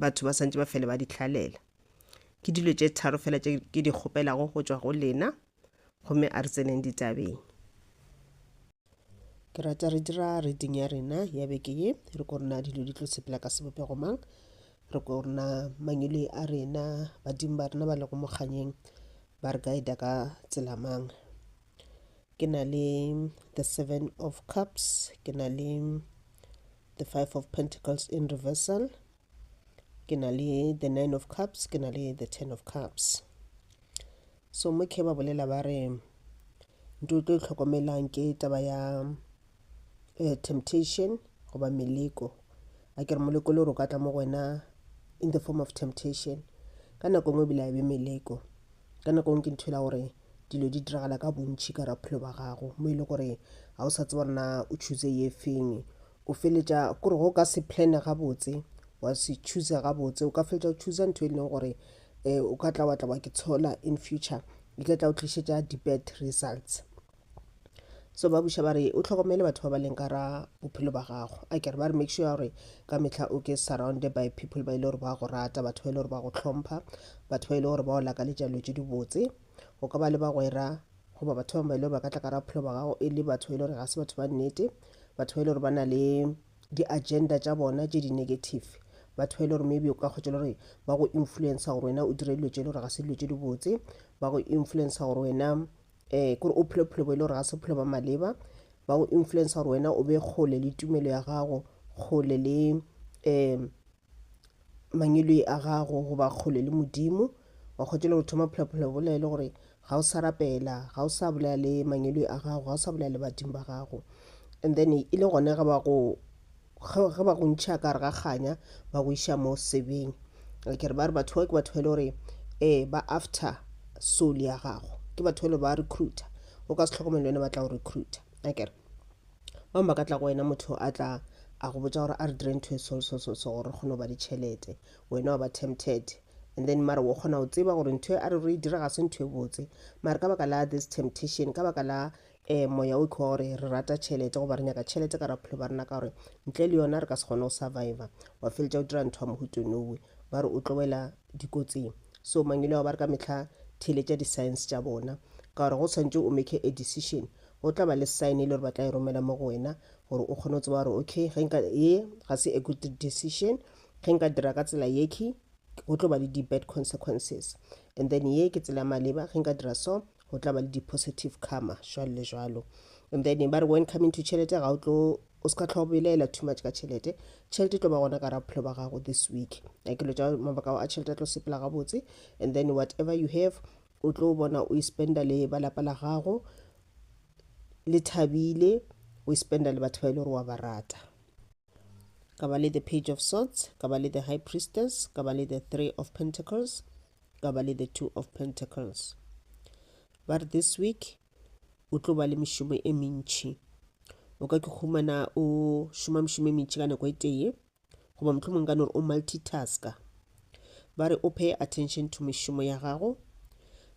batho ba santse ba fele ba di hlalela ke dilo tše tharo fela tše ke di kgopelago go tšwa go lena gomme a re tseneng ditabeng ke rata re dira reading ya rena ya beke ye re ko rena dilo di tlo sepela ka sebopego mang re ko rena mangele a rena badimo ba rena ba lego mokganyeng ba re guida ka tsela mang ke na le the seven of cups ke na le the five of pentacles in reversal ke na le the nine of cups ke na le the ten of cups so mo khe ba bolela ba re ntho o tlo e tlhokomelang ke taba ya uh, temptation goba meleko a ke re moleko le gore o ka tla mo go wena in the form of temptation ka nako nngwe ebile a be meleko ka nako nngwe ke ntho e la gore dilo di diragala ka bontšhi ka raphelo ba gago mo e le gore ga o sa tseba rena o choose ye feng o feletša kore go ka se plane gabotse wa se choose gabotse o ka feletša o choose ntho e leng gore um o ka tla wa tla wa ke tshola in future e tla tla o tlišetša di-bad results so ba buša ba re o tlhokomele batho ba ba leng ka ra bophelo ba gago a kere ba re make sure gore ka mehla o ke surrounded by people ba ile e gore ba go rata batho ba ile e gore ba go tlhompha batho ba ile e gore ba o lakaletša dilo tše dibotse o ka ba le bagwera goba batho bangwe ba ile e ba ka tla ka ra bophelo ba gago e le batho ba ile e gore ga se batho ba nnete batho ba ile e gore ba na le di-agenda tša bona tše di-negative batho ba ile e gore maybe o ka kgwetša le gore ba go influencer gore wena o dire dilo tše e le gore ga se dilo tše dibotse ba go influencer gore wena um kore o phele bophelo bo e le gore ga se bophelo ba maleba ba go influence gore wena o be kgole le tumelo ya gago kgole le um mangweloi a gago goba kgole le modimo wa kgotšela go thoma phelaphelo bola e le gore ga o sa rapela ga o sa bolela le mangweloi a gago ga o sa bolela le badimo ba gago and then e le gone ga ba go ge ba go ntšha ka re ga kganya ba go iša mo sebeng ke re ba re batho bao ke batho ba e le gore um ba after soul ya gago ke batho ba e le ba recruiter o ka se tlhokomele wena ba tla go recruiter a kere ba ba ka tla go wena motho a tla a go botsa gore a re dire ntho e so so so so gore kgone go ba le tšhelete wena wa ba tempted and then mara o kgona go tseba gore ntho e a re re e dira ga se ntho e botse mara ka baka la this temptation ka baka la um moya o kgwa gore re rata tšhelete goba re nyaka tšhelete ka raphelo ba rena ka gore ntle le yona re ka se kgone go surviva wa feletša o dira ntho ya mohutenowe ba re o tlo wela dikotsing so mangwele ao ba re ka metlha theletša di-science tša bona ka gore go tshwanetse o make a decision go tla ba le sign e le gore ba tla e romela mo go wena gore o kgone go tseba gore okay ge nka ye ga se a good decision ge nka dira ka tsela yeke go tlo ba le di-bad consequences and then ye ke tsela maleba ge nka dira so go tla ba le di-positive karma jwalo le jwalo and then ba re when coming to tšhelete ga o tlo o se ka tlhogo belaela too much ka tšhelete tšhelete e tlo ba gona ka ra bophelo ba gago this week a ke lo tša mabaka a tšhelete a tlo sepela gabotse and then whatever you have o tlo bona o e spenda le ba lapa la gago le thabile o e spenda le batho ba e le gore wa ba rata ka ba le the page of swords ka ba le the high priestess ka ba le the three of pentacles ka ba le the two of pentacles ba re this week o tlo ba le mešomo e mentši o ka ke humana o šoma mešomo e mentši ka nako e tee goba mohlomong ka nore o multitasker ba re o pay attention to mešomo ya gago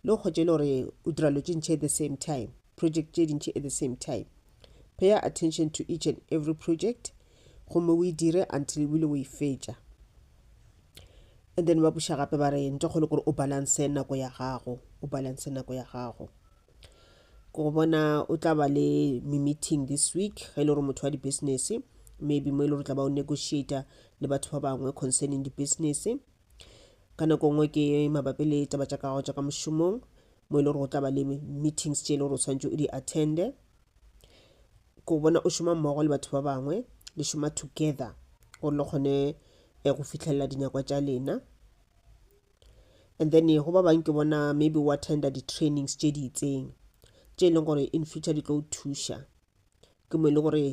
le go kgotše le gore o dira lo tše ntšhe at the same time project tše dintšhe at the same time pay attention to each and every project gomme o e dire until ebile o e fetša and then ba buša gape ba re ntle kgolo gore o balance nako ya gago o balance nako ya gago go bona o tla ba le mi-meeting this week ge e le gore motho wa di-business maybe mo e le gore tla ba o negotiata le batho ba bangwe concerning di-business ka nako nngwe ke mabapi le taba tša kago tša ka mošomong mo e le gore go tla ba le meetings tše e le gore o tshwanetse o di attende ko bona o šoma mmogo le batho ba bangwe le šoma together gore le kgone eh, go fitlhelela dinyakwa tša lena and then go ba bang ke bona maybe wa tender di-trainings tše di itseng tše e leng gore in future di tlo o thuša ke mo e leng gore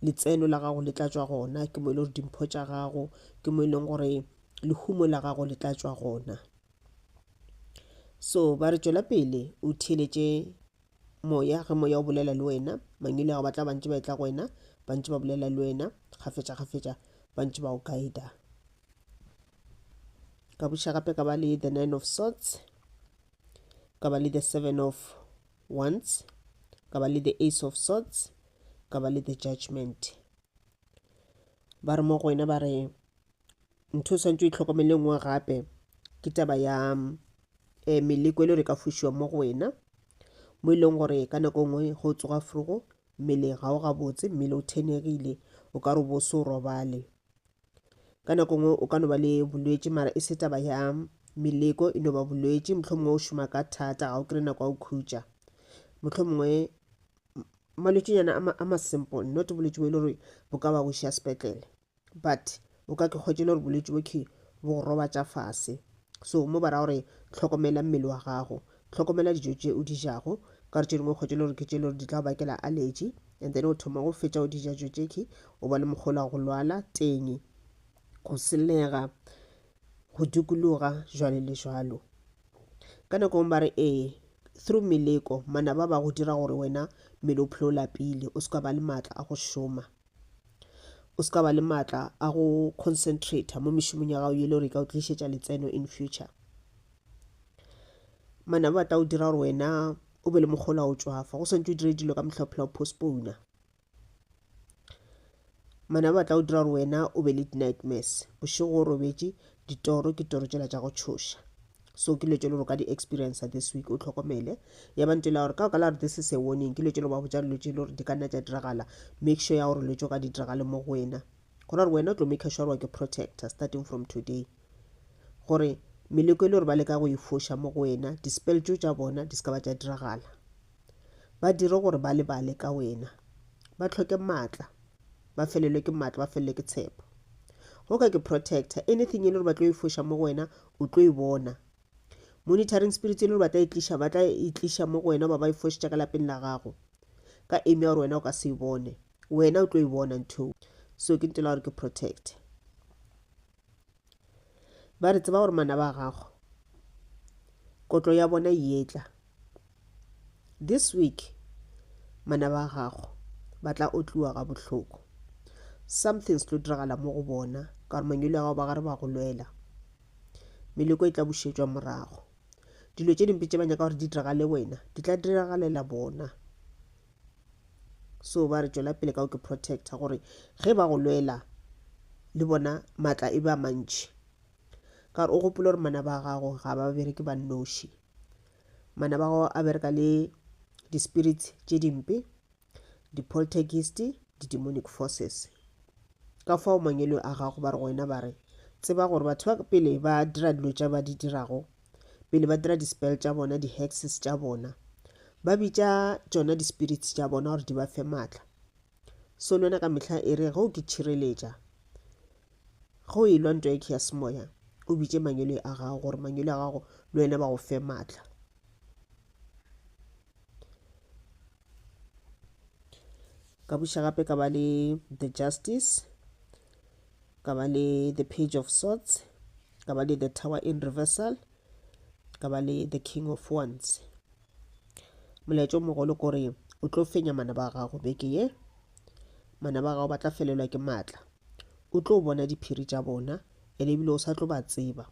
letseno la gago le tlatšwa gona ke mo e leng gore dimpho tša gago ke mo e leng gore lehumo la gago le tlatšwa gona so ba re tšwela pele o theeletše moya ge moya o bolela le wena mangwele gago ba tla bantse ba etla go wena bantse ba bolela le wena gafetša gafetša bantse ba o guida ka buša gape ka ba le the nine of swords ka ba le the seven of wands ka ba le the ace of swords ka ba le the judgment ba re mo go wena ba re ntho o swantse o itlhokomele nngwe gape ke taba ya um meleko e le gore e ka fošiwa mo go wena mo e leng gore ka nako nngwe go tsoga frugo mmeleng ga o gabotse mmele o thenegile o ka re bo se o robale ka nako nngwe o ka no ba le bolwetši mara e se taba ya meleko e no ba bolwetši motlho mongwe o šoma ka thata ga o kry nako ya go khutša motlho mongwe malwetšinyana a masimple not bolwetši bo e le gore bo ka ba boša sepetlele But o ka ke hwetše le gore bolwetši bo khe bo go robatša fase. So mo ba ra gore hlokomela mmele wa gago, hlokomela dijo tše o di jago, ka gore tše dingwe o hwetše le gore ke tše le gore di tla go bakela allergy and then o thoma go fetša o di ja dijo tše khe o ba le mokgolo wa go lwala teng, go selega, go dikologa jwalo le jwalo. Ka nako ngwe ba re ee through meleko manaba ba go dira gore wena mmele o phele o lapile o se ka ba le maatla a go šoma. o se ka ba le maatla a go concentrator mo mešomong ya gago yele gore e ka o tlišetša letseno in future manaba ba tla o dira gore wena o be le mokgolo a o tswafa go swantse o dire dilo ka mohlaophela o postpona manaba ba tla o dira gore wena o be le di-nightmares bošego o robetše ditoro ke toro tsela tša go tšhoša so ke lwetšelo gore ka di experience this week o tlhokomele ya ba ntela gore ka ka la gore this is a warning ke lwetšelo ba botša lwetše le gore di ka nna tša diragala make sure ya gore lwetšo ka di diragale mo go wena gona gore wena o tlo make sure wa ke protector starting from today gore meleko e le gore ba leka go e foša mo go wena dispel tšo tša bona di seka ba tša diragala ba dire gore ba lebale ka wena ba tlhoke maatla ba felelwe ke matlo ba felelwe ke tshepo go ka ke protector anything e le gore ba tlo e foša mo go wena o tlo e bona monitoring spirit e le gore ba tla e tliša ba tla e tliša mo go wena ba ba e fošetša ka lapeng la gago ka eme ya gore wena o ka se e bone wena o tlo e bona ntho so ke ntela gore ke protector ba re tseba gore manaba a gago kotlo ya bona yetla this week manaba a gago ba tla otliwa ga bohloko something se tlo diragala mo go bona ka gore manyolo ya gago ba gare ba go lwela meleko e tla bušetšwa morago dilo tše dimpe tše ba nyaka gore di diragale wena di tla diragalela bona So ba re tšwela pele ka go ke protecta gore ge ba go lwela le bona matla e be a mantši. Ka gore o gopole gore mana ba gago ga ba bereke ba nnoši. Mana ba gago a bereka le di-spirits tše dimpe, di-poltergeist, di-demonic forces. Ka fao mangwelo a gago ba re go wena ba re tseba gore batho ba pele ba dira dilo tša ba di dirago pele ba dira di-spell tša bona di-hexes tša bona ba bitša tšona di-spirits tša bona gore di ba fe maatla so le yona ka mehla e re ge o ke tšhireletša ge o e lwa nto eke ya semoya o bitše mangwele a gago gore mangwele a gago le wena ba go fe maatla ka buša gape ka ba le the justice ka ba le the page of swords ka ba le the tower in reversal ka ba le the king of wands molaetša o mogolo kore o tlo fenya mana ba gago beke ye mana ba gago ba tla felelwa ke maatla o tlo bona diphiri tša bona ene ebile o sa tlo ba tseba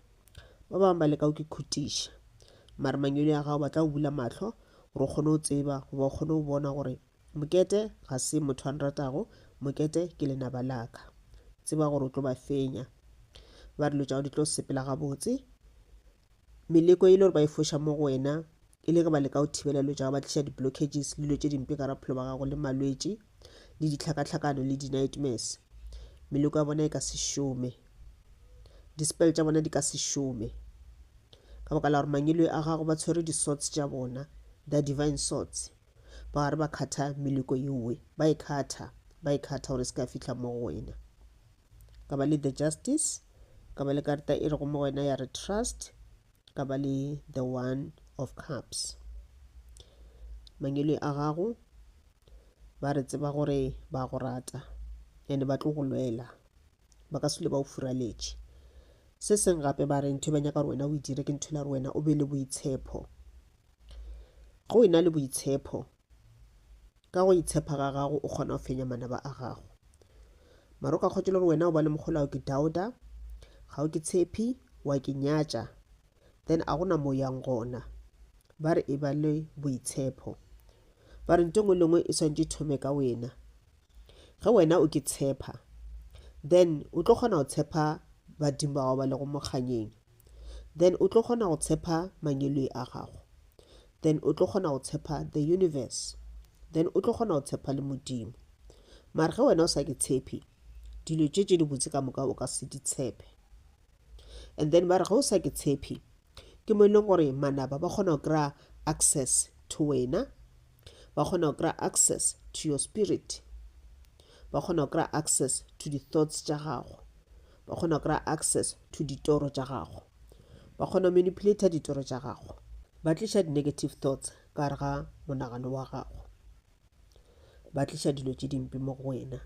ba bangwe ba leka go ke khutiša mare manyoni a gago ba tla go bula mahlo gore o kgone go tseba goba o kgone go bona gore mokete ga se motho a nratago mokete ke lenaba laka tseba gore o tlo ba fenya ba dilo tša go di tlo sepela gabotse meleko e le gore ba e foša mo go wena e le ge ba leka go thibela dilo tša go ba tliša di-blockages le dilo tše dimpe ka raphelo ba gago le malwetši le dihlakahlakano le di-nightmares meleko ya bona e ka se šome dispel tša bona di ka se šome ka baka la gore mangelo a gago ba tshwere di-sorts tša bona the divine sorts ba gare ba kgatha meleko yeowe ba e kgatha ba e kgatha gore se ka fitlha mo go wena ka ba le the justice ka ba le karta e rego mo wena ya re trust ka ba le the one of cups mangwele a gago ba re tseba gore ba go rata and ba tlo go lwela ba ka sele ba o furaletše se seng gape ba re ntho e ba nyaka gore wena o e dire ke ntho la gore wena o be le boitshepho go e na le boitshepho ka go itshepa ga gago o kgona go fenya manaba a gago maro ka kgotse le gore wena o ba le mogolao ke dauda ga o ke tshepi wa ke nyatša then a gona mo yang gona ba re e ba le boitshepo ba re nto ngwe lengwe e swantse thome ka wena ge wena o ke tshepa then o tlo kgona go tshepa badimo ba gago ba lego mokganyeng then o tlo kgona go tshepa manyoloi a gago then o tlo kgona go tshepa the universe then o tlo kgona go tshepa le modimo mare ge wena o sa ke tshepi dilo tše tše di botse ka moka o ka se di tshepe and then ba re ge o sa ke tshepi ke mo e leng gore manaba ba kgona go kry-a access to wena ba kgona go kry-a access to your spirit ba kgona go kry-a access to di-thoughts tša gago ba kgona go kry-a access to ditoro tša gago ba kgona go manipulator ditoro tša gago ba tliša di-negative thoughts ka gare ga monagano wa gago ba tliša dilo tše dimpe mo go wena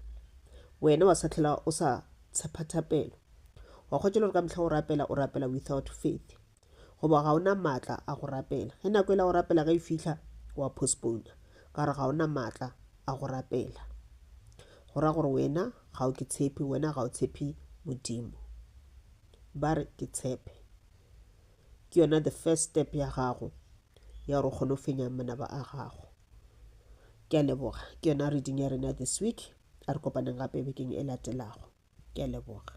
wena wa sa tlhela o sa tshepa thapelo wa kgotšela gore ka mehla o rapela o rapela without faith goba ga o na maatla a go rapela ge nako e la go rapela ge e fihla wa postpona ka gore ga o na maatla a go rapela go ra gore wena ga o ke tshepi wena ga o tshepi modimo ba re ke tshepe ke yona the first step ya gago ya gore o kgone go fenya manaba a gago ke a leboga ke yona reading ya rena this week a re kopaneng gape bekeng e latelago ke a leboga